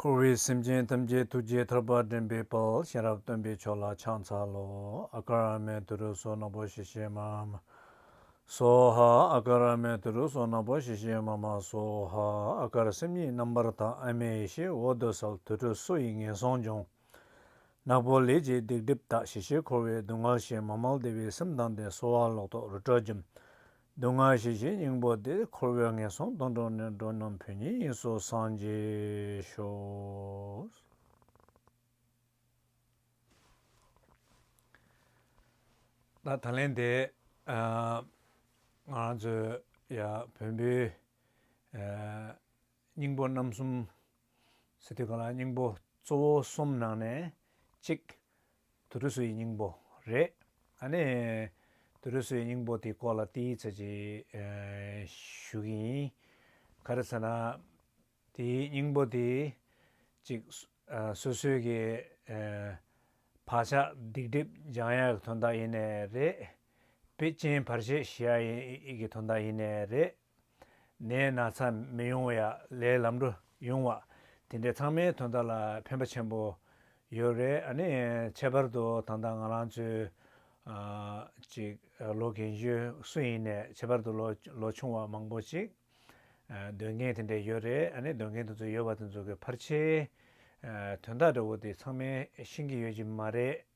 འཁོར་བའི་སེམས་ཅན་ཐམས་ཅད་ཐུགས་རྗེ་ཐར་པར་འདྲེན་པའི་དཔལ་གཤེན་རབ་སྟོན་པའི་མཆོག་ལ་ཕྱག་འཚལ་ལོ། ཨ་ཀཱ་ར་མའི་དུས་རབས་སོ་ནམ་པོ་ཞེས་བཤད་མ། སོ་ཧ། ཨ་ཀཱ་ར་མའི་དུས་རབས་སོ་ནམ་པོ་ཞེས་བཤད་མ་མ། སོ་ཧ། ཨ་ཀཱ་ར་སེམས་ཉིད་རྣམ་པར་དག་ཨ་མའི་ཡེ་ཤེས་འོད་དུ་གསལ་དུར་ཁྲོད་སོ་ཡི་ངན་སོང་སྦྱོང། ནག་པོ་ལས་ཀྱི་སྡིག་སྒྲིབ་དག་ཞི་ཞེས་འཁོར་བའི་སྡུག་བསྔལ་ཞེས་མ་མལ་བདེ་བའི་སེམས་དང་ལྡན་གསོལ་བ་ལོག་རྟོག་རུ་ཏྲ་འཇོམས། སྡུག་བསྔལ་ཞི་བྱེད་སྙིང་པོ་འདི་འཁོར་བའི་ངན་སོང་སྡོང་གྲོགས་ནས་འགྲོ་རྣམས་བོན་ཉིད་དབྱིངས་སུ་སངས་རྒྱས་ཤོག། ད་ད་ལན་དེ། ང་རང་ཚོའི་ཡ་བོན་པོའི། སྙིང་པོ་རྣམ་གསུམ། སི་ཏུ་ག་ལ་སྙིང་པོ་གཙོ་བོ་གསུམ་ནང་ནས་གཅིག། དུར་ཁྲོད་སུ་ཡི་སྙིང་པོ་རེད། ཨ་ནི། དུར་ཁྲོད་སུ་ཡི་སྙིང་པོ་དེའི་སྐོར་ལ་ཏི་ཡིག་ཚད་ཅིག་ཞུ་གི་ཡིན། ག་རེ་ཚ་ན། དེའི་སྙིང་པོ་དེ། གཅིག། སོ་སོའི་གི། བག་ཆགས་སྡིག་སྒྲིབ་སྦྱང་ཡ་གི་དོན་དག་ཡེ་ནས་རེད། པེ་ཅིན་བར་ཆད་ཞི་ཡ་གི་དོན་དག་ཡེ་ནས་རེད། ནས་ན་ཚ་མི་ཡོང་བ་ཡ་ལས་ལམ་འགྲོ་ཡོང་བ་དེ་འདྲས་ཚང་མའི་དོན་དག་ལ་ཕན་པ་ཆེན་པོ་ཡོད་རེད་ཨ་ནི་ཁྱད་པར་དུ་ད་ལྟ་ང་རང་ཚོའི་ཅིག་ལོ་གན་ཞུ་སུ་ཡིན་ནས་ཁྱད་པར་དུ་ལོ་ཆུང་བ་མང་པོ་ཅིག་འདོད་མཁན་དེ་འདྲས་ཡོད་རེད་ཨ་ནི་འདོད་མཁན་དེ་ཚོ་ཡོད་པ་དེ་ཚོ་གི་ཕར་ཆེའི་དོན་དག་འདྲ་བོ་དེ་ཚང་མས་ཤེས་ཀྱི་ཡོད་ཀྱི་མ་རེད།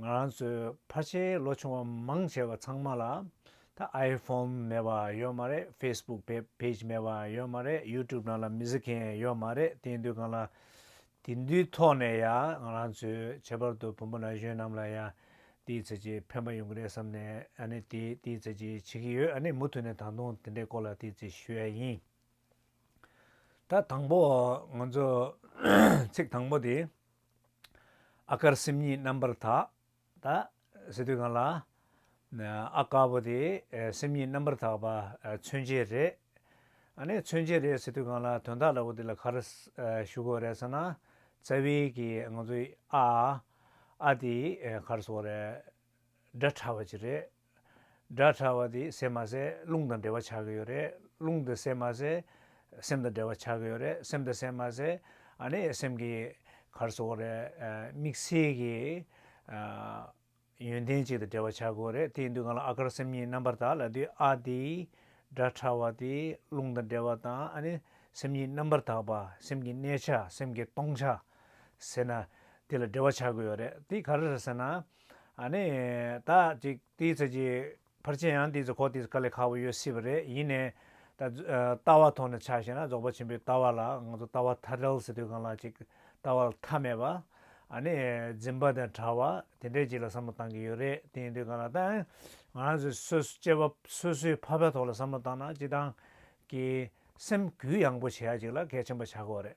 ང་རང་ཚོའི་ཕར་ཆེར་ལོ་ཆུང་བ་མང་ཆེ་བ་ཚང་མ་ལ་ད་ཨའི་ཕོམ་མེད་པ་ཡོད་མ་རེད་ཕེས་སྦུག་བེ་བེས་མེད་པ་ཡོད་མ་རེད་ཡུ་ཀྲུབ་ནང་ལ་མི་གཟིགས་མཁན་ཡོད་མ་རེད་དེ་འདུས་གང་ལ་དེ་འདུས་ཐོག་ནས་ཡ་ང་རང་ཚོའི་ཁྱད་པར་དུ་བུ་མོ་ན་གཞོན་རྣམས་ལ་ཡ་དེའི་ཚེ་ཅིག་ཕན་པ་ཡོང་གི་རེད་བསམ་ནས་ཨ་ནི་དེ་དེའི་ཚེ་ཅིག་བྱེད་ཀྱི་ཡོད་ཨ་ནི་མུ་མཐུད་ནས་ད་དུང་དེ་འདྲའི་སྐོར་ལ་དེའི་ཚེ་ཞུ་ཡ་ཡིན། ད་དང་པོ་ང་ཚོ་ཚིག་དང་པོ་དེ། ཨ་དཀར་སེམས་ཉིད་རྣམ་པར་དག། སེ་སྟོད་གངས་ལ། ཨ་དཀར་པོ་དེ་སེམས་ཉིད་རྣམ་པར་དག་པ་མཚོན་བྱེད་རེད། ཨ་ནི་མཚོན་བྱེད་རེད་སེ་སྟོད་གངས་ལ་དོན་དག་ལ་བོ་དེ་ལ་གར་ཞུ་གོ་རེད་ས་ན། རྩ་བའི་གི་ང་ཚོའི་ཨ། ཨ་དེའི་གར་སོ་རེད། སྒྲ་ཕྲ་བ་ཅིག་རེད། སྒྲ་ཕྲ་བ་དེ་ཟད་མ་ཟད་རླུང་དང་འབྲེལ་བ་ཆགས་ཀྱི་ཡོད་རེད། རླུང་དེ་ཟད་མ་ཟད་སེམས་དང་འབྲེལ་བ་ཆགས་ཀྱི་ཡོད་རེད། སེམས་དེ་ཟད་མ་ཟད་ཨ་ནི་སེམས་ཀྱི་གར་སོགས་རེད། དམིགས་བསལ་གྱི་ཡོན་ཏན་ཅིག་དང་འབྲེལ་བ་ཆགས་ཀྱི་རེད། དེ་ཡིན་དུས་གང་ལ་ཨ་དཀར་སེམས་གཉིས་རྣམ་པར་དག་ལ་དུས་ཨ་དེ་སྒྲ་ཕྲ་བ་དེ་རླུང་དང་འབྲེལ་བ་དང་ཨ་ནི་སེམས་གཉིས་རྣམ་པར་དག་པ་སེམས་ཀྱི་གནས་ཆ་སེམས་ཀྱི་སྟོང་ཆ་ཟེར་ན། དེ་ལ་འབྲེལ་བ་བྱ་དགོས་རེད་དེ་ག་རེ་རེད་ཟེར་ན། ནི། ད་ཅིག་དེའི་ཚོད་ཀྱི་ཕར་ཆེར་ཡང་དེའི་ཚོད་ཁོག་དེའི་ཚོད་ཁ་ལས་ཁག་པོ་ཡོད་སྲིད་པ་རེད་ཡིན་ནའི། ད། ལྟ་བ་ཐོག་ནས་ཆ་ཤེས་ན་རྫོགས་པ་ཆེན་པོའི་ལྟ་བ་ལ་ང་ཚོ་ལྟ་བ་མཐའ་བྲལ་ཟེར་དུས་གང་ལ་ཅིག་ལྟ་བ་ལ་མཐའ་མེད་པ། ནི། འཛིན་པ་དང་བྲལ་བ་དེ་འདྲའི་ཅིག་ལ་བསམ་བློ་བཏང་གི་ཡོད་རེད་དེ་ཡིན་དུས་གང་ལ་ཐང། ང་རང་ཚོའི་སོ་སྐྱེ་བ་སོ་སོའི་ཕ་ཕའི་ཐོག་ལ་བསམ་བློ་བཏང་ན་ཅི་ཐང། གི། སེམས་གུས་ཡངས་པོ་བྱེད་ཡ་ཅིག་ལ་གལ་ཆེན་པོ་བྱ་དགོས་རེད།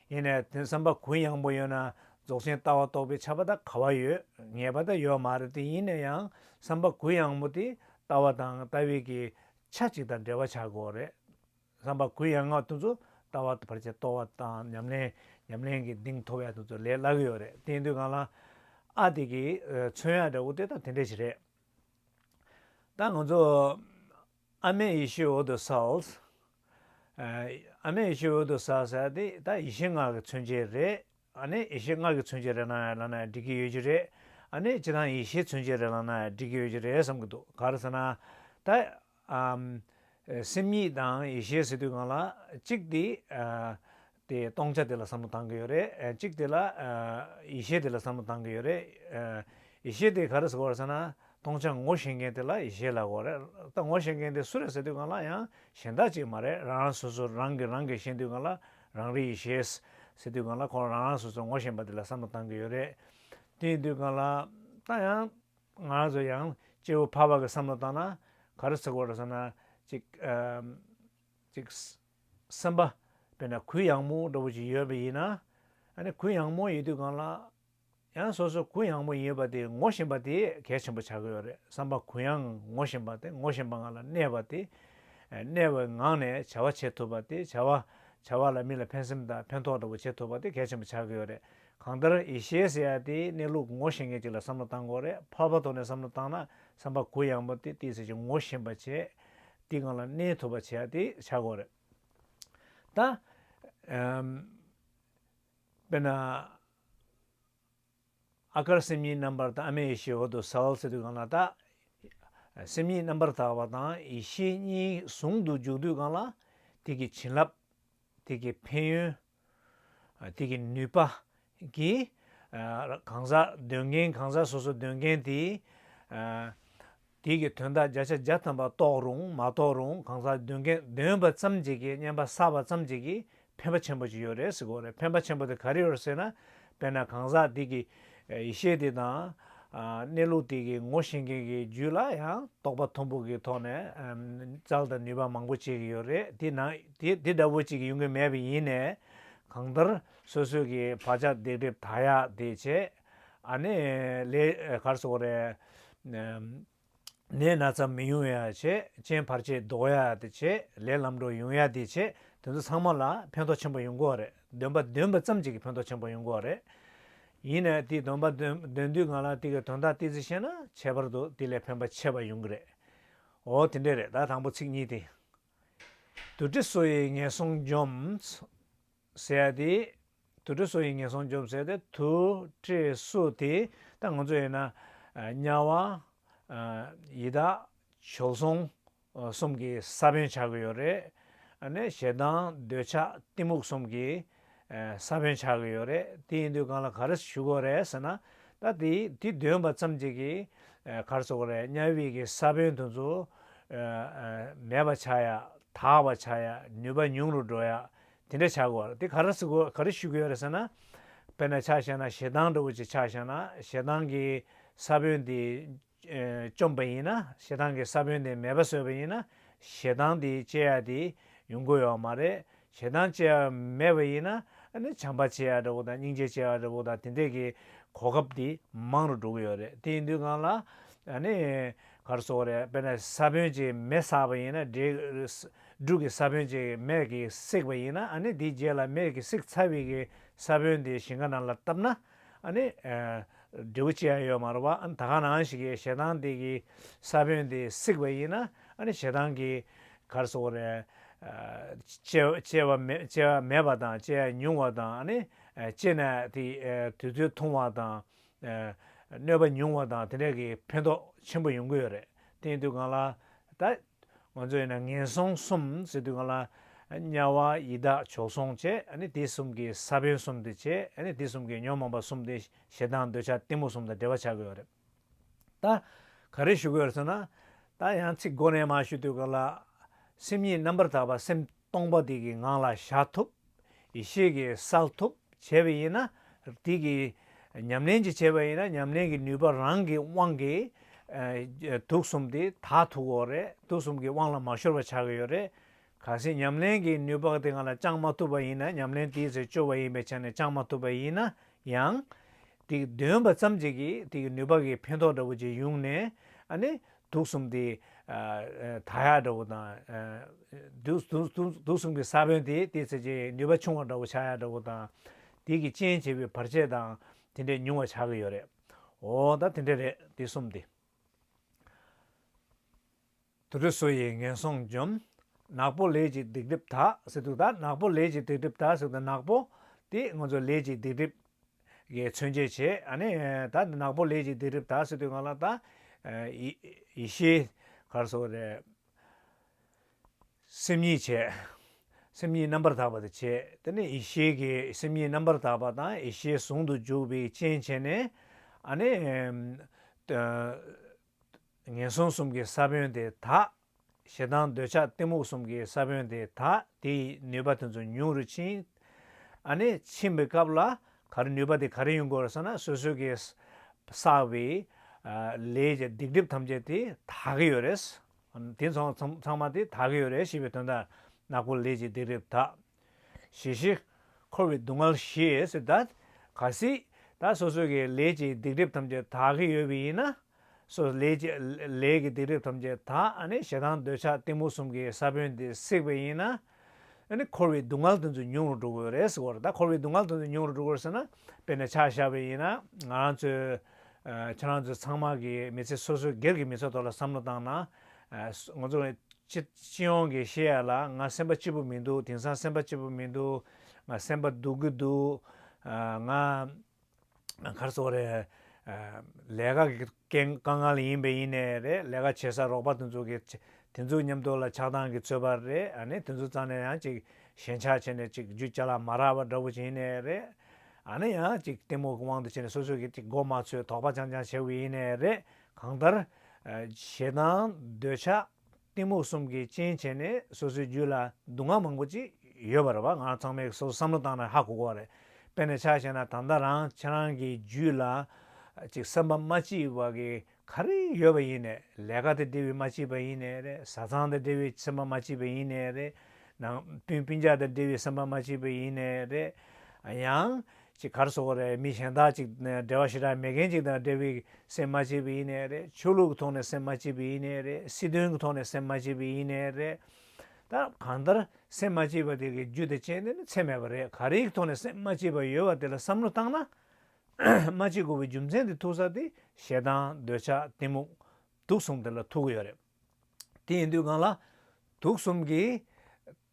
ཡེ་ནས་དོན་བསམ་པ་གུ་ཡངས་པོ་ཡོད་ན་རྫོགས་ཆེན་ལྟ་བ་རྟོགས་པའི་ཆ་བ་དང་ག་བ་ཡོད་ངེས་པ་དང་ཡོད་མ་རེད་དེ་ཡིན་ན་ཡང་བསམ་པ་གུ་ཡངས་པོ་དེ་ལྟ་བ་དང་ལྟ་བའི་གི་ཆ་གཅིག་དང་འབྲེལ་བ་ཆགས་དགོས་རེད། བསམ་པ་གུ་ཡངས་བ་དེ་ཚོ་ལྟ་བ་བར་ཆད་གཏོར་བ་དང་ཉམས་ལེན་ཉམས་ལེན་གྱི་གདིང་མཐོ་བས་དེ་ཚོ་ལས་སླ་གི་ཡོད་རེད་དེ་དུས་གང་ལ་ཨ་དེ་གི་མཚོན་ཡ་འདྲ་བོ་དེ་དང་དེ་འདྲ་ཞིག་རེད། ད་ང་ཚོ་ཨ་མེ་ཡེ་ཤེས་འོད་དུ་སལ། ཨ་མེ་ཡེ་ཤེས་འོད་དུ་སལ་ཟེར་དེ་ད་ཡེ་ཤེས་ངག་གི་མཚོན་བྱེད་རེད། ཨ་ནེ་ཡེ་ཤེས་ངག་གི་མཚོན་བྱེད་རེད་ན་ལ་ན་འགྲིག་གི་ཡོད་ཀྱི་རེད། ཨ་ནེ་སྤྱི་དང་ཡེ་ཤེས་མཚོན་བྱེད་རེད་ལ་ན་འགྲིག་གི་ཡོད་ཀྱི་རེད་བསམ་གྱི་འདུག་ག་རེ་ཟེར་ན། ད་སེམས་ཉིད་དང་ཡེ་ཤེས་ཟེར་དུས་གང་ལ་གཅིག་དེ་དེ་སྟོང་ཆ་དེ་ལ་བསམ་བློ་གཏང་གི་ཡོད་རེད། གཅིག་དེ་ལ། ཡེ་ཤེས་དེ་ལ་བསམ་བློ་གཏང་གི་ཡོད་རེད། ཡེ་ཤེས་དེ་ག་རེ་ཟེར་བར་ཟེར་ན། སྟོང་ཆ་ངོ་ཤེས་མཁན་དེ་ལ་ཡེ་ཤེས་ལགས་གོ་རེད། ད་ངོ་ཤེས་མཁན་དེ་སུ་རེད་ཟེར་དུས་གང་ལ་ཡང་གཞན་དག་ཅིག་མ་རེད་རང་རང་སོ་སོར་རང་གིས་རང་གིས་ཤེས་དུས་གང་ལ་རང་རིག་ཡེ་ཤེས། ཟེར་དུས་གང་ལ་ཁོང་རང་རང་སོ་སོར་ངོ་ཤེས་པ་དེ་ལ་བསམ་བློ་གཏང་གི་ཡོད་རེད། དེ་ཡིན་དུས་གང་ལ། ད་ཡང། ང་རང་ཚོ་ཡང་སྐྱེ་བོ་འཕགས་པ་གི་བསམ་བློ་བཏང་ན། ག་རེ་ཟེར་བར་ཟེར་ན། གཅིག། ཅིག། སེམས་པ། དཔེར་ན་གུ་ཡངས་མོ་འདྲ་བོ་ཞིག་ཡོད་པ་ཡིན་ན། ཨཱ་ནི་གུ་ཡངས་མོ་ཡོད་དུས་གང་ལགས། ཡང་སོ་སོ་གུ་ཡངས་མོ་ཡིན་པ་དེ་ངོ་བཞིན་པ་དེས་གལ་ཆེན་པོ་ཆགས་ཀྱི་ཡོད་རེད་བསམ་པ་གུ་ཡངས་ངོ་བཞིན་པ་དེ་ངོ་བཞིན་པ་ངང་ལ་གནས་པ་དེ། གནས་པའི་ངང་ནས་བྱ་བ་བྱེད་ཐུབ་པ་དེ་བྱ་བ། བྱ་བ་ལ་མི་ལ་ཕན་སེམས་དང་ཕན་ཐོགས་འདྲ་བོ་བྱེད་ཐུབ་པ་དེ་གལ་ཆེན་པོ་ཆགས་ཀྱི་ཡོད་རེད། གང་ལྟར་ཡེ་ཤེས་ཟེར་ཡ་དེའི་གནས་ལུགས་ངོ་ཤེས་མཁན་ཅིག་ལ་བསམ་བློ་བཏང་དགོས་རེད་ཕར་ཕར་དོར་ནས་བསམ་བློ་བཏང་ན་བསམ་པ་གུ་ཡངས་མོ་དེ་ཏིས་སེ་ཅིག་ངོ་བཞིན་པ་བྱེད། དེ་གང་ལ་གནས་ཐུབ་པ་བྱས་ཏེ་བྱ་དགོས་རེད། ད། དཔེར་ན། ཨ་ཀར་སེམས་ཉིད་རྣམ་པར་དག་ཨ་མའི་ཡེ་ཤེས་འོག་ཏུ་ཟ་བར་བྱེད་དུས་གང་ལ་དག། སེམས་ཉིད་རྣམ་པར་དག་པ་དང་ཡེ་ཤེས་གཉིས་ཟུང་དུ་འཇུག་དུས་གང་ལ། དེ་གི་བྱིན་རླབས། དེ་གི་ཕན་ཡོན། དེ་གི་ནུས་པ། གི། གང་ཟག་འདོན་མཁན་གང་ཟག་སོ་སོ་འདོན་མཁན་དེ། དེ་གི་དོན་དག་བརྒྱ་ཆ་བརྒྱ་ཐམ་པ་རྟོགས་རུང་མ་རྟོགས་རུང་གང་ཟག་འདོན་མཁན་འདོན་པ་ཙམ་གྱིས་ཀྱི་བརྙན་པ་བསགས་པ་ཙམ་གྱིས་ཀྱི་ཕན་པ་ཆེན་པོ་ཅིག་ཡོད་རེད་ཟེར་གོ་རེད་ཕན་པ་ཆེན་པོ་དེ་ག་རེ་ཡོད་རེད་ཟེར་ན། དཔེར་ན་གང་ཟག་དེ་གི་ཡེ་ཤེས་དེ་དང། གནས་ལུགས་དེ་གི་ངོ་ཤེས་མཁན་གྱི་རྒྱུད་ལ་ཡང་རྟོག་པ་མཐོན་པོ་གི་ཐོག་ནས་ཙལ་དང་ནུས་པ་མང་པོ་བྱེད་ཀྱི་ཡོད་རེད་དེ་འདྲ་བོ་ཅིག་ཡོང་གི་མེད་པ་ཡིན་ནས་གང་ལྟར་སོ་སོས་ཀྱི་བག་ཆགས་རྡེག་སྒྲིབ་དག་ཡག་དེ་བྱེད་ཨ་ནི་ལས་གར་སོགས་རེད། ནད་སྣ་ཙམ་མི་ཡོང་ཡ་བྱེད་ཅན་བར་ཆད་ཟློག་ཡ་དེ་བྱེད་ལས་ལམ་འགྲོ་ཡོང་ཡ་དེ་བྱེད་དེ་ཚོ་ཚང་མ་ལ་ཕན་ཐོག་ཆེན་པོ་ཡོང་དགོས་རེད་འདོན་པ་འདོན་པ་ཙམ་གྱི་གི་ཕན་ཐོག་ཆེན་པོ་ཡོང་དགོས་རེད། ཡིན་ནས་དེ་འདོན་པ་འདོན་འདོན་དུས་ང་ལ་དེ་གི་དོན་དག་ཏི་ཙི་བཤད་ན་ཁྱད་པར་དུ་དེ་ལས་ཕན་པ་ཆེ་བ་ཡོང་གི་རེད། འོ་དེ་འདྲས་རེད་ད་དང་པོ་ཚིག་གཉིས་དེ། དུ་ཏྲི་སོ་ཡི་ངན་སོང་འཇོམས། ཟེར་ཡ་དེ། དུར་ཁྲོད་སོ་ཡིས་ངན་སོང་འཇོམས་ཟེར་ཏེ་དུར་ཁྲོད་སོ་དེ། ད་ང་ཚོ་ཡིན་ན། དམྱལ་བ། ཡི་དྭགས། བྱོལ་སོང། གསུམ་གྱི་ས་བོན་ཆགས་ཀྱི་ཡོད་རེད། ནས་ཞེ་སྡང་འདོད་ཆགས་གཏི་མུག་གསུམ་གྱི། ས་བོན་ཆགས་ཀྱི་ཡོད་རེད་དེ་ཡིན་དུས་གང་ལ་ག་རེ་ཞུ་དགོས་རེད་ཟེར་ན། ད་དེ་དེ་འདོན་པ་ཙམ་གྱིས་ཀྱི། གར་བཟོ་དགོས་རེད་དམྱལ་བིས་ཀྱི་ས་བོན་དུ་ཚོ། མེད་པ་ཆགས་ཡ་དག་པ་ཆགས་ཡ་ནུས་པ་ཉུང་རུ་འགྲོ་ཡ། དེ་འདྲ་ཆགས་དགོས་དེ་ག་རེ་བྱེད་དགོས་ག་རེ་ཞུ་གི་ཡོད་རེད་ཟེར་ན། དཔེར་ན་ཆ་བཞག་ན་ཞེ་སྡང་འདྲ་བོ་ཅིག་ཆ་བཞག་ན་ཞེ་སྡང་གི་ས་བོན་དེ་བཅོམ་པ་ཡིན་ན་ཞེ་སྡང་གི་ས་བོན་དེ་མེད་པ་བཟོས་པ་ཡིན་ན་ཞེ་སྡང་དེ་སྤྱད་ཡ་དེ་ཡོང་གི་ཡོད་མ་རེད་ཞེ་སྡང་སྤྱད་ཡ་མེད་པ་ཡིན་ན་བྱམས་པ་སྤྱད་ཡ་འདྲ་བོ་དང་སྙིང་རྗེ་སྤྱད་ཡ་འདྲ་བོ་དང་དེ་འདྲས་ཀྱི་གོ་སྐབས་དེ་མང་རུ་འགྲོ་གི་ཡོད་རེད་དེ་ཡིན་དུས་གང་ལ་ག་རེ་བྱེད་དགོས་རེད་དཔེར་ན་ས་བོན་ཅིག་མེ་བསགས་པ་ཡིན་ན་འདྲེས་འབྲུག་གི་ས་བོན་ཅིག་མེར་གྱིས་བསྲེགས་པ་ཡིན་ན་ནི་དེའི་རྗེས་ལ་མེར་གྱིས་བསྲེགས་ཚར་བའི་གི་ས་བོན་དེ་ཞིང་ཁ་ནང་ལ་བཏབ་ན་ནི་འབྲས་བུ་ཅི་ཡང་ཡོད་མ་རུང་བ་ད་གང་ནའང་ཞིག་གིས་ཞེ་སྡང་དེ་གི་ས་བོན་དེ་བསྲེགས་པ་ཡིན་ན་ནི་ཞེ་སྡང་གི་གར་སོང་བ་རེད། སྐྱེ་བ་མེད་པ་དང་སྐྱེ་བ་ཉུང་བ་དང་ནི་སྐྱེས་ནས་དེ་དུས་ཚོད་ཐུང་བ་དང་གནོད་པ་ཉུང་བ་དང་དེ་འདྲ་གི་ཕན་ཐོགས་ཆེན་པོ་ཡོང་གི་ཡོད་རེད་དེའི་དུས་གང་ལ་ད། ང་ཚོ་ཡིན་ན་ངན་སོང་གསུམ་ཟེར་དུས་ང་ལ་དམྱལ་བ་ཡི་དྭགས་བྱོལ་སོང་བྱེད་ཨནི་དེ་གསུམ་གྱི་ས་བོན་གསུམ་དེ་བྱེད་ཨནི་དེ་གསུམ་གྱི་ཉོན་མོངས་པ་གསུམ་དེ་ཞེ་སྡང་འདོད་ཆགས་གཏི་མུག་གསུམ་དང་འབྲེལ་བ་བྱ་དགོས་པ་རེད། ད་ག་རེ་ཞུ་དགོས་རེད་ཟེར་ན། ད་ཡང་ཚིག་མགོ་ནས་མ་ཞུ་དུས་ང་ལ་སེམས་ཉིད་རྣམ་པར་དག་པ་སེམས། སྟོང་པ་དེ་གི་ངང་ལ་བཞག་ཐུབ། ཡེ་ཤེས་ཀྱི་བསགས་ཐུབ་བྱས་པ་ཡིན་ན། དེ་གི་ཉམས་ལེན་གྱི་བྱས་པ་ཡིན་ན་ཉམས་ལེན་གྱི་ནུས་པ་རང་གི་དབང་གིས། དུག་གསུམ་དེ་དག་དུག་འོ་རེད་དུག་གསུམ་གྱི་དབང་ལ་མ་ཤོར་བ་ཆགས་ཀྱི་ཡོད་རེད། གལ་སྲིད་ཉམས་ལེན་གྱི་ནུས་པ་དེ་ང་ལ་བཅངས་མ་ཐུབ་པ་ཡིན་ན་ཉམས་ལེན་དེའི་ཚེ་སྤྱོ་བ་ཡིན་པའི་ཆ་ནས་བཅངས་མ་ཐུབ་པ་ཡིན་ན་ཡང། དེ་གི་འདོན་པ་ཙམ་གྱིས་ཀྱི་དེ་གི་ནུས་པ་གི་ཕན་ཐོགས་འདྲ་བོ་ཅིག་ཡོང་ནས། ཨ་ནི། དུག་གསུམ་དེ། ད་ཡག་འདྲ་བོ་དང། དུག་གསུམ་གྱི་ས་བོན་དེ་དེའི་ཚེ་ཅན་ནུས་པ་ཆུང་བ་འདྲ་བོ་ཆག་ཡག་འདྲ་བོ་དང། དེ་གི་རྐྱེན་བྱས་པའི་བར་ཆད་དང་དེ་འདྲས་ཉུང་བ་ཆག་གི་ཡོད་རེད། འོ་ད་དེ་འདྲས་རེད་དེ་གསུམ་དེ། དུར་ཁྲོད་སོ་ཡིས་ངན་སོང་འཇོམས། ནག་པོ་ལས་ཀྱི་སྡིག་སྒྲིབ་དག་ཟེར་དུས་ད་ནག་པོ་ལས་ཀྱི་སྡིག་སྒྲིབ་དག་ཟེར་དུས་ན་ནག་པོ་དེ་ང་ཚོ་ལས་ཀྱི་སྡིག་སྒྲིབ་གིས་མཚོན་བྱེད་བྱས། ཨནི། ད་ནག་པོ་ལས་ཀྱི་སྡིག་སྒྲིབ་དག་སེལ་དུས་ང་ལ་ད། ཡེ་ཤེས། གར་སོགས་ཏེ། སེམས་ཉིད་བྱས། སེམས་ཉིད་རྣམ་པར་དག་པ་དེ་བྱས། དེ་ནས་ཡེ་ཤེས་ཀྱིས་སེམས་ཉིད་རྣམ་པར་དག་པ་དང་ཡེ་ཤེས་ཟུང་དུ་འཇུག་པའི་རྐྱེན་བྱས་ནས། ཨནི། ངན་སོང་གསུམ་གྱི་ས་བོན་དེ་དག། ཞེ་སྡང་འདོད་ཆགས་གཏི་མུག་གསུམ་གྱི་ས་བོན་དེ་དག་དེ་ཡི་ནུས་པ་དེ་ཚོ་ཉུང་རུ་ཕྱིན། ཨ་ནི་ཕྱིན་པའི་སྐབས་ལ་གར་ནུས་པ་དེ་ག་རེ་ཡོང་དགོས་རེད་བསམ་ན་སོ་སོའི་གིས་བསགས་པའི་ལས་ཀྱི་སྡིག་སྒྲིབ་ཐམས་ཅད་དེ་དག་གི་ཡོད་རེད། དེ་ཚང་མ་དེ་དག་གི་ཡོད་རེད་ཞེས་པའི་དོན་དང་ནག་པོ་ལས་ཀྱི་སྡིག་སྒྲིབ་དག་ཞི་ཞི། འཁོར་བའི་སྡུག་བསྔལ་ཞེས་བཟླ། ག་སྲིད། ད་སོ་སོ་གྱི་ལས་ཀྱི་སྡིག་སྒྲིབ་ཐམས་ཅད་དག་གི་ཡོད་པས་ཡིན་ན། སོ་སོ་ལས་ཀྱི་ལས་ཀྱི་སྡིག་སྒྲིབ་ཐམས་ཅད་དག་ནི་ཞེ་སྡང་འདོད་ཆགས་གཏི་མུག་གསུམ་གྱི་ས་བོན་དེས་བསྲེགས་པས་ཡིན་ན། འཁོར་བའི་སྡུག་བསྔལ་དེ་ཚོ་ཉུང་རུ་འགྲོ་དགོས་རེད་ཟེར། ད་འཁོར་བའི་སྡུག་བསྔལ་དེ་ཚོ་ཉུང་རུ་འགྲོ་དགོས་ཟེར་ན། དཔེར་ན་ཆགས་བཞག་པས་ཡིན་ན་ང་རང་ཚོས། ཁྱེད་རང་ཚོ་ཚང་མ་གིས་མི་ཚེ་སོ་སོའི་སྒེར་གྱི་མི་ཚོགས་ཐོག་ལ་བསམ་བློ་བཏང་ན། ང་ཚོ་སྤྱི་ཡོངས་ཀྱི་ཤེས་ཡ་ལ་ང་སེམས་པ་སྐྱིད་པོ་མི་འདུག་དེང་སང་སེམས་པ་སྐྱིད་པོ་མི་འདུག་ང་སེམས་པ་སྡུག་གི་འདུག་ང་གར་སོང་རེད། ལས་ཀ་གི་དཀའ་ངལ་ཡིན་པས་ཡིན་ནས་རེད་ལས་ཀ་བྱེད་ས་རོགས་པ་དེ་ཚོ་གི་དེ་ཚོའི་ཉམས་རྟོགས་ལ་ཆགས་སྡང་གིས་ཚོད་པར་རེད་ཨ་ནི་དེ་ཚོ་ཙང་ནས་ཡང་ཅིག་ཞེན་ཆགས་བྱས་ནས་ཅིག་རྒྱུ་ཅག་ལ་མ་རག་པ་འདྲ་བོ་བྱས་ནས་རེད་ཨ་ནི་ཡང་ཅིག་གཏི་མུག་གི་དབང་དུ་བྱས་ནས་སོ་སོ་གི་ཅིག་མགོ་མ་ཚོས་དོགས་པ་ཅང་ཅང་བྱས་བས་ཡིན་ནས་རེད། གང་ལྟར། ཞེ་སྡང་འདོད་ཆགས་གཏི་མུག་གསུམ་གྱིས་རྐྱེན་བྱས་ནས་སོ་སོའི་རྒྱུད་ལ་སྡུག་བསྔལ་མང་པོ་ཅིག་ཡོད་པ་རེད་བ་ང་རང་ཚང་མས་སོ་སོ་བསམ་བློ་བཏང་ན་ཧ་གོ་གོ་རེད། དཔེར་ན་ཆ་ཤས་ན་ད་ལྟ་རང་ཁྱེད་རང་གི་རྒྱུད་ལ། ཅིག་སེམས་པ་མ་སྐྱིད་བ་གི་ག་རེ་ཡོད་པ་ཡིན་ནས་ལས་ཀ་དེ་འབྲེལ་བའི་མ་སྐྱིད་པ་ཡིན་ནས་རེད་བཟའ་ཚང་དེ་འབྲེལ་བའི་སེམས་པ་མ་སྐྱིད་པ་ཡིན་ནས་རེད། ནང་དཔོན་སྤུན་རྒྱག་དེ་འབྲེལ་བའི་སེམས་པ་མ་སྐྱིད་པ་ཡིན་ནས་རེད། ཡང། ཅིག་གར་སོང་བ་རེད་མི་གཞན་དག་ཅིག་འབྲེལ་བ་ཞེ་དྲག་མེད་མཁན་ཅིག་དང་འབྲེལ་བའི་སེམས་མ་བྱེད་པའི་ཡིན་ནའི་རེད་ཆོས་ལུགས་ཀྱི་ཐོག་ནས་སེམས་མ་བྱེད་པའི་ཡིན་ནའི་རེད་སྲིད་དོན་གྱི་ཐོག་ནས་སེམས་མ་བྱེད་པའི་ཡིན་ནའི་རེད་ད་གང་ལྟར་སེམས་མ་བྱེད་པ་དེ་གི་རྒྱུ་དེ་རྐྱེན་དེ་ནི་ཚད་མེད་པ་རེད་ག་རེའི་ཐོག་ནས་སེམས་མ་བྱེད་པ་ཡོད་བ་དེ་ལ་བསམ་བློ་བཏང་ན་མ་བྱེད་དགོས་པའི་རྒྱུ་མཚན་དེ་ཐུག་ས་དེ་ཞེ་སྡང་འདོད་ཆགས་གཏི་མུག་དུག་གསུམ་དེ་ལ་ཐུག་གི་ཡོད་རེད་དེ་ཡིན་དུས་གང་ལ་དུག་གསུམ་གྱི།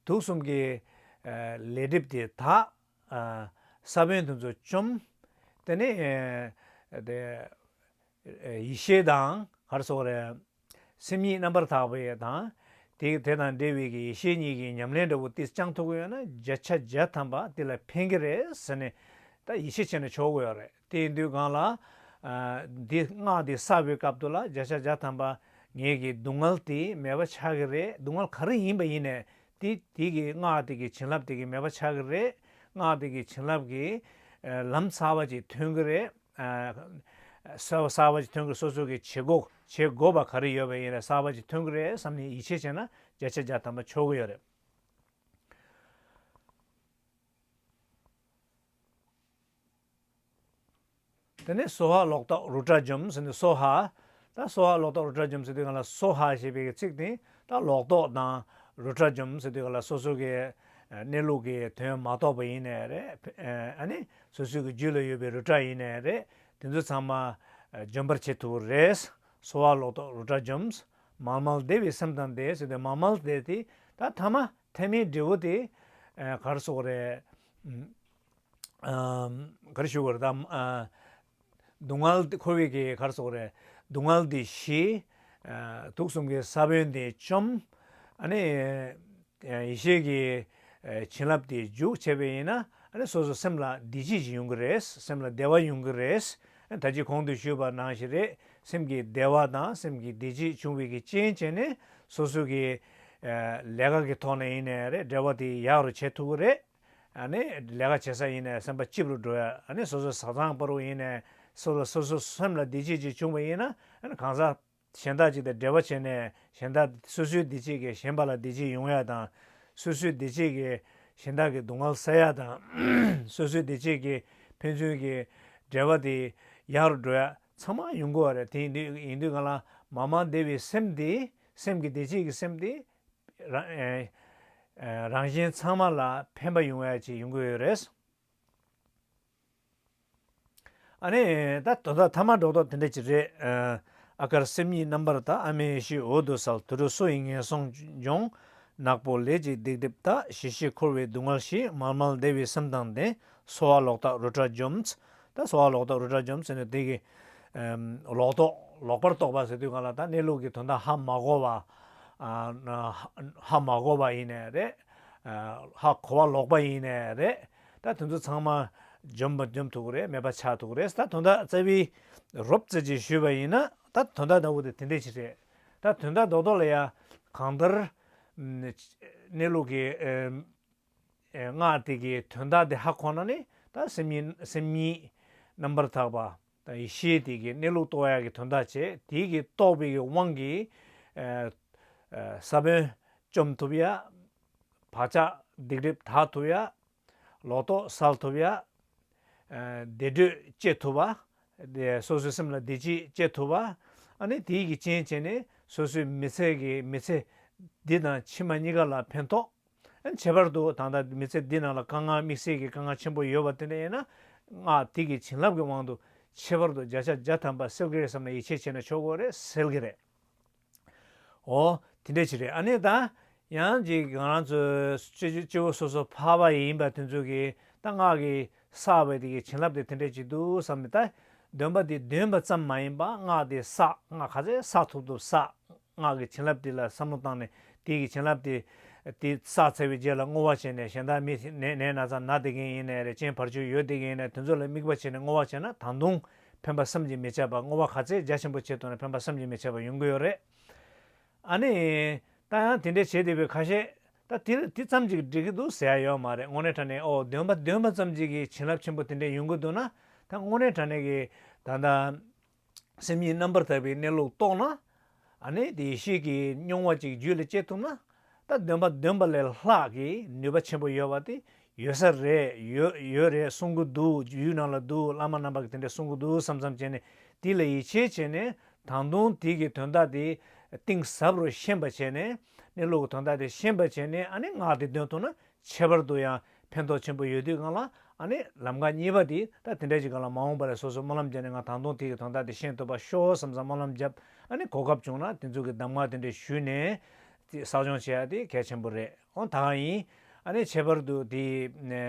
དུག་གསུམ་གྱི། ལས་སྒྲིབ་དེ་དག། ས་བོན་དེ་ཚོ་བཅོམ། དེ་ནས། ཡེ་ཤེས་དང། གར་སོགས་རེ། སེམས་ཉིད་རྣམ་པར་དག་པའི་དང། དེ་དང་འབྲེལ་བའི་ཡེ་ཤེས་གཉིས་ཀྱི་ཉམས་ལེན་འདྲ་བོ་ཏིལ་ལྕང་ཐུག་གི་ཡོད་ན་བརྒྱ་ཆ་བརྒྱ་ཐམ་པ་དེ་ལ་ཕན་གྱི་རེད་ཟེར་ནས། ད་ཡིད་ཆེས་བྱས་ན་ཆོག་གི་ཡོད་རེད། དེ་ཡིན་དུས་གང་ལ། འདི་སྔགས་འདི་བསགས་པའི་སྐབས་དུ་ལ་བརྒྱ་ཆ་བརྒྱ་ཐམ་པ་ངེད་ཀྱི་སྡུག་བསྔལ་དེ་མེད་པ་ཆགས་ཀྱི་རེད་སྡུག་བསྔལ་ག་རེ་ཡིན་པ་ཡིན་ནས་དེ་དེ་གི་སྔགས་དེ་གི་བྱིན་རླབས་དེ་གི་མེད་པ་ཆགས་ཀྱི་རེད་སྔགས་དེ་གི་བྱིན་རླབས་ཀྱི། ལམ་གསར་བ་ཅིག་ཐོན་གྱི་རེད། གསར་བ་ཅིག་ཐོན་གྱི་སོ་སོ་གི་བྱེད་སྒོ་བྱེད་དགོས་པ་ག་རེ་ཡོད་པ་ཡིན་རེད་གསར་བ་ཅིག་ཐོན་གྱི་རེད་བསམ་ནས་ཡིད་ཆེས་བྱས་ན་བརྒྱ་ཆ་བརྒྱ་ཐམ་པ་ཆོག་གི་ཡོད་རེད། དེ་ནས་སོ་ཧ་ལོག་རྟོག་རུ་དྲ་འཇོམས་ཟེར་ནས་སོ་ཧ། ད་སོ་ཧ་ལོག་རྟོག་རུ་དྲ་འཇོམས་ཟེར་དུས་གང་ལ་སོ་ཧ་ཞེས་པའི་གི་ཚིག་དེ་ད་ལོག་རྟོག་དང་རུ་དྲ་འཇོམས་ཟེར་དུས་གང་ལ་སོ་སོ་གི་གནས་ལུགས་ཀྱི་དོན་མ་རྟོགས་པ་ཡིན་ནས་རེད། ཨ་ནི། སོ་སོའི་གི་རྒྱུད་ལ་ཡོད་པའི་རུ་དྲ་ཡིན་ནས་རེད། དེ་ཚོ་ཚང་མ། འཇོམས་པར་བྱེད་ཐུབ་རེད། སོ་ཧ་ལོག་རྟོག་རུ་དྲ་འཇོམས། མཱལ་མཱལ་བདེ་བའི་སེམས་དང་བདེ་ཟེར་དུས་མཱལ་མཱལ་བདེ་དེ་ད་ཐ་མ་ཐལ་མེའི་འབྲས་བུ་དེ། གར་སོགས་རེད། གར་ཞུ་བར་གདམས། སྡུག་བསྔལ་འདི་ཁོ་བོས་ཀྱི་གར་སོགས་རེད། སྡུག་བསྔལ་འདི་ཞི། དུག་གསུམ་གྱི་ས་བོན་འདི་བཅོམ། ཡེ་ཤེས་ཀྱི་བྱིན་རླབས་འདི་འཇུག་བྱས་པས་ཡིན་ན། སོ་སོ་སེམས་ལ་བདེ་སྐྱིད་ཅིག་ཡོང་གི་རེད། སེམས་ལ་བདེ་བ་ཡོང་གི་རེད། ད་ཅི་གོང་དུ་ཞུས་པ་ནང་བཞིན་རེད། སེམས་ཀྱི་བདེ་བ་དང་སེམས་ཀྱི་བདེ་སྐྱིད་འབྱུང་བའི་རྐྱེན་བྱས་ནས་སོ་སོའི་ལས་ཀ་གི་ཐོག་ནས་ཡིན་ནའི་རེད་འབྲེལ་བ་དེ་ཡག་རུ་བྱེད་ཐུབ་ཀྱི་རེད། ནི་ལས་ཀ་བྱེད་ས་ཡིན་ནས་སེམས་པ་སྐྱིད་པོར་འགྲོ་ཡ་ནི་སོ་སོའི་བཟའ་ཚང་སྤར་བོ་ཡིན་ནས་སོ་ལ་སོ་སོའི་སེམས་ལ་བདེ་སྐྱིད་ཅིག་བྱུང་བ་ཡིན་ན་གང་ཟག་གཞན་དག་ཅིག་དང་འབྲེལ་བ་བྱས་ནས་གཞན་དག་སོ་སོའི་བདེ་སྐྱིད་ཀྱིས་གཞན་པ་ལ་བདེ་སྐྱིད་ཡོང་ཡ་དང། སོ་སོའི་བདེ་སྐྱིད་ཀྱིས་གཞན་དག་གི་སྡུག་བསྔལ་སེལ་ཡ་དང། སོ་སོའི་བདེ་སྐྱིད་ཀྱིས་ཕན་ཚུན་གྱི་འབྲེལ་བ་དེ་ཡག་རུ་འགྲོ་ཡ་ཚང་མ་ཡོང་དགོས་བ་རེད་དེ་ཡིན་དུས་ཡིན་དུས་ང་ལ་མང་མང་བདེ་བའི་སེམས་དེ་སེམས་ཀྱི་བདེ་སྐྱིད་ཀྱི་སེམས་དེ་རང་བཞིན་ཚང་མ་ལ་ཕན་པ་ཡོང་བའི་ཆེད་ཡོང་གི་ཡོད་རེད། ཨ་ནི། ད་དོ་ད་ཐ་མ་འགྲོགས་ཐོག་དེ་འདྲ་ཅིག་རེད། ཨ་དཀར་སེམས་ཉིད་རྣམ་པར་དག་ཨ་མའི་ཤི་འོ་དོ་སལ་དུ་དྲོ་སོ་ཡིན་ངན་སོང་ལྗོངས། ནག་པོ་ལས་ཅིག་སྡིག་སྒྲིབ་དག་ཞི་ཞི་འཁོར་བའི་སྡུག་བསྔལ་ཞི་མལ་མལ་བདེ་བའི་སེམས་དང་ལྡན་གསོ་བ་ལོག་རྟགས་རུ་ཏྲ་འཇོམས། ད་གསོ་བ་ལོག་རྟགས་རུ་ཏྲ་འཇོམས་ཟེར་ནས་དེ་གི། ལོག་རྟོག་ལོག་པར་རྟོག་པ་ཟེར་དུས་གང་ལ་ད་གནས་ལུགས་ཀྱི་དོན་དག་ཧ་མ་གོ་བ། ཧ་མ་གོ་བ་ཡིན་ནས་རེད། ཧ་གོ་བ་ལོག་པ་ཡིན་ནས་རེད། ད་དེ་ཚོ་ཚང་མ་འཇོམས་ཐུབ་ཀྱི་རེད་མེད་པ་ཆགས་ཐུབ་ཀྱི་རེད། ད་དོན་དག་རྩ་བའི་རོབ་རྩེད་ཅིག་ཞུས་པ་ཡིན་ན་ད་དོན་དག་ལྟ་བུ་དེ་དེ་འདྲས་ཅིག་རེད། ད་དོན་དག་རྡོག་རྡོག་ལ་ཡ། གང་ལྟར། གནས་ལུགས་ཀྱི་སྔགས་དེ་གའི་དོན་དག་དེ་ཧ་གོ་ན་ནི་ད་སེམས་ཉིད་རྣམ་པར་དག་པ། དང་ཡེ་ཤེས་དེ་གའི་གནས་ལུགས་རྟོགས་ཡ་གི་དོན་དག་ཆེ་དེ་གི་རྟོགས་པའི་གི་དབང་གིས། ས་བོན་བཅོམ་ཐུབ་ཡ། བག་ཆགས་སྡིག་སྒྲིབ་དག་ཐུབ་ཡ། ལོག་རྟོག་སལ་ཐུབ་ཡ། བདེ་དྲོད་སྐྱེ་ཐུབ་བ། སོ་སོའི་སེམས་ལ་བདེ་སྐྱིད་སྐྱེ་ཐུབ་བ། ཨ་ནི་དེ་གི་རྐྱེན་བྱས་ནས་སོ་སོའི་མི་ཚེ་གི་མི་ཚེ་འདི་དང་ཕྱི་མ་གཉིས་ཀ་ལ་ཕན་ཐོགས། བྱེད་པར་འདུག་ད་ལྟ་མི་ཚེ་འདི་རྣམས་ལ་དཀའ་ངལ་དམིགས་བསལ་གྱི་དཀའ་ངལ་ཆེན་པོ་ཡོད་པ་དེ་འདྲ་ཡིན་ན། སྔགས་ཐིག་གི་བྱིན་རླབས་ཀྱི་དབང་དུ། ཁྱད་པར་དུ་བརྒྱ་ཆ་བརྒྱ་ཐམ་པ་སེལ་གི་རེད་བསམ་ན་ཡིད་ཆེས་བྱས་ན་ཆོག་གོ་རེད་སེལ་གི་རེད། ཨོ། དེ་འདྲའི་ཆེད་རེད་ཨ་ནི་ད། ཡང་ཅིག་ང་རང་ཚོའི་སྤྱི་བོ་སོ་སོར་འཕར་བ་ཡིན་པ་དེ་ཚོ་གི་ད་སྔགས་ཀྱི་བསགས་པའི་དེ་གི་བྱིན་རླབས་དེ་དེ་འདྲས་ཅིག་འདུག་བསམ་ནས་ད། འདོན་པ་དེ་འདོན་པ་ཙམ་མ་ཡིན་པ་སྔགས་དེ་བསགས་སྔགས་ག་ཚད་བསགས་ཐུབ་ཐུབ་བསགས། སྔགས་ཀྱི་བྱིན་རླབས་དེ་ལ་བསམ་བློ་བཏང་ནས་དེའི་གྱི་བྱིན་རླབས་དེ། དེ་བསགས་ཚར་བའི་རྗེས་ལ་བསྔོ་བ་བྱས་ནས་གཞན་དག་མི་ནད་ན་ཚ་ན་དེ་གའི་ཡིན་ནས་རེ་ཅན་བར་ཆོད་ཡོད་དེ་གའི་ཡིན་ནས་དེ་ཚོ་ལ་དམིགས་པ་བྱས་ནས་བསྔོ་བ་བྱས་ན་ད་དུང་ཕན་པ་བསམ་གྱིས་མི་ཁྱབ་པ་བསྔོ་བ་ག་ཚད་རྒྱ་ཆེན་པོ་བྱས་ཐུབ་ན་ཕན་པ་བསམ་གྱིས་མི་ཁྱབ་པ་ཡོང་གི་ཡོད་རེད། ཨ་ནི། ད་ཡང་དེ་འདྲའི་བྱེད་བདེ་བའི་ཁ་ཤས། ད་དེ་དེ་ཙམ་གྱིས་འགྲིག་གི་འདུག་ཟེར་ཡ་ཡོད་མ་རེད་བསྔོ་སྣེ་དྲ་གནས་འོག་འདོན་པ་འདོན་པ་ཙམ་གྱིས་གྱི་བྱིན་རླབས་ཆེན་པོ་དེ་འདྲས་ཡོང་གི་འདུག་ན་ད་བསྔོ་སྣེ་དྲ་གནས་ཀྱི་ད་ལྟ། སེམས་ཉིད་རྣམ་པར་དག་པའི་གནས་ལུགས་རྟོགས་ན། ནི་དེ་ཡེ་ཤེས་ཀྱི་སྙོང་བ་ཅིག་རྒྱུད་ལ་སྐྱེ་ཐུབ་ན། ད་འདོན་པ་འདོན་པ་ལས་ལྷག་གི་ནུས་པ་ཆེན་པོ་ཡོད་པ་དེ་ཡོད་ས་རེད་ཡོད་ཡོད་རེད་གསུང་གི་འདུག་ཡུལ་ནང་ལ་འདུག་བླ་མ་རྣམ་པ་གི་དེ་འདྲས་གསུང་གི་འདུག་བསམ་བསམ་བྱས་ནས་དེ་ལ་ཡིད་ཆེས་བྱས་ནས་ད་དུང་དེ་གི་དོན་དག་དེ་གཏིང་ཟབ་རུ་ཤེས་པ་བྱས་ནས་གནས་ལུགས་ཀྱི་དོན་དག་དེ་ཤེས་པ་བྱས་ནས་ནི་ངག་དེ་འདོན་ཐུབ་ན་ཁྱད་པར་དུ་ཡང་ཕན་ཐོགས་ཆེན་པོ་ཡོད་དུས་ང་ལ། ཨ་ནི། ལམ་ཁ་གཉིས་པ་འདི་ད་དེ་འདྲའི་ཅིག་ག་ལ་མ་འོངས་པ་རེད་སོ་སོ་སྨོན་ལམ་བརྒྱབ་ནས་ང་ད་དུང་དེ་ཡི་དོན་དག་དེ་ཤེས་ཐུབ་པ་ཤོག་བསམ་བསམ་སྨོན་ལམ་བརྒྱབ་ཨ་ནི་གོ་སྐབས་བྱུང་ན་དེ་ཚོ་གི་གདམ་ངག་དེ་འདྲ་ཞུས་ནས། བསགས་སྦྱོང་བྱེད་ཡ་དེ་གལ་ཆེན་པོ་རེད་ཨོ་ད་གང་ཡིན། ཨ་ནི་ཁྱད་པར་དུ་དེ་ཡི།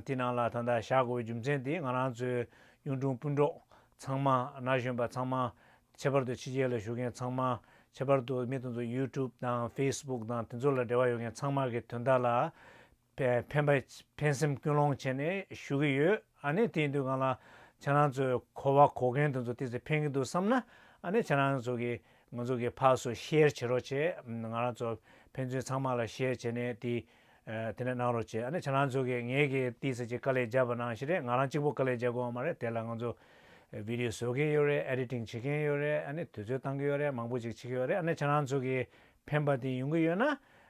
དེ་ནང་ལ་ད་ལྟ་བཞག་དགོས་པའི་རྒྱུ་མཚན་དེ་ང་རང་ཚོའི་གཡུང་དྲུང་སྤུན་གྲོགས། ཚང་མ། ན་གཞོན་པ་ཚང་མ། ཁྱད་པར་དུ་ཕྱི་རྒྱལ་ལ་བཞུགས་མཁན་ཚང་མ། ཁྱད་པར་དུ་མི་དེ་ཚོ YouTube དང Facebook དང་དེ་ཚོ་ལ་འབྲེལ་བ་ཡོད་མཁན་ཚང་མ་གི་དོན་དག་ལ། ཕན་པ། ཕན་སེམས་ཀུན་སློང་བྱས་ནས་ཞུ་གི་ཡོད། ཨ་ནི་དེའི་དུས་གང་ལ། ཁྱེད་རང་ཚོས་གོ་བ་གོ་མཁན་དེ་ཚོ་དེ་ཚོས་ཕན་གི་འདུག་བསམ་ན། ཨ་ནི་ཁྱེད་རང་ཚོ་གི་ང་ཚོ་གི་ཕགས་སུ Share བྱེད་རོགས་བྱེད། ང་རང་ཚོ་ཕན་ཚུན་ཚང་མ་ལ Share བྱས་ནས་དེའི། དེ་ནས་གནང་རོགས་བྱས་ཨ་ནི་བྱ་ལང་ཚོ་གིས་ངེད་ཀྱི་ཏི་སེ་གཅིག་དཀའ་ལས་བརྒྱབ་པ་ནང་བཞིན་རེད་ང་རང་གཅིག་པོ་དཀའ་ལས་བརྒྱབ་དགོས་བ་མ་རེད་དེ་ལ་ང་ཚོ Video བཟོ་མཁན་ཡོད་རེད Editing བྱེད་མཁན་ཡོད་རེད་ཨ་ནི་དུས་ཚོད་བཏང་གི་ཡོད་རེད་མང་པོ་ཅིག་བྱེད་ཀྱི་ཡོད་རེད་ཨ་ནི་བྱ་ལང་ཚོ་གིས་ཕན་པ་དེ་ཡོང་གི་ཡོད་ན་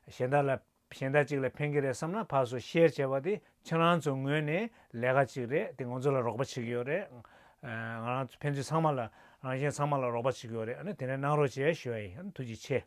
གཞན་དག་ལ་གཞན་དག་ཅིག་ལ་ཕན་གྱི་རེད་བསམ་ན་ཕར་སུ Share བྱས་པ་དེ་བྱ་ལང་ཚོ་ངོས་ནས་ལས་ཀ་ཅིག་རེད་དེ་ང་ཚོ་ལ་རོགས་པ་བྱེད་ཀྱི་ཡོད་རེད་ང་རང་ཕན་ཚུན་ཚང་མ་ལ་རང་གཞན་ཚང་མ་ལ་རོགས་པ་བྱེད་ཀྱི་ཡོད་རེད་ཨ་ནི་དེ་ནས་གནང་རོགས་བྱས་ཞོའེ་ཨ་ནི་ཐུགས་རྗེ་ཆེ།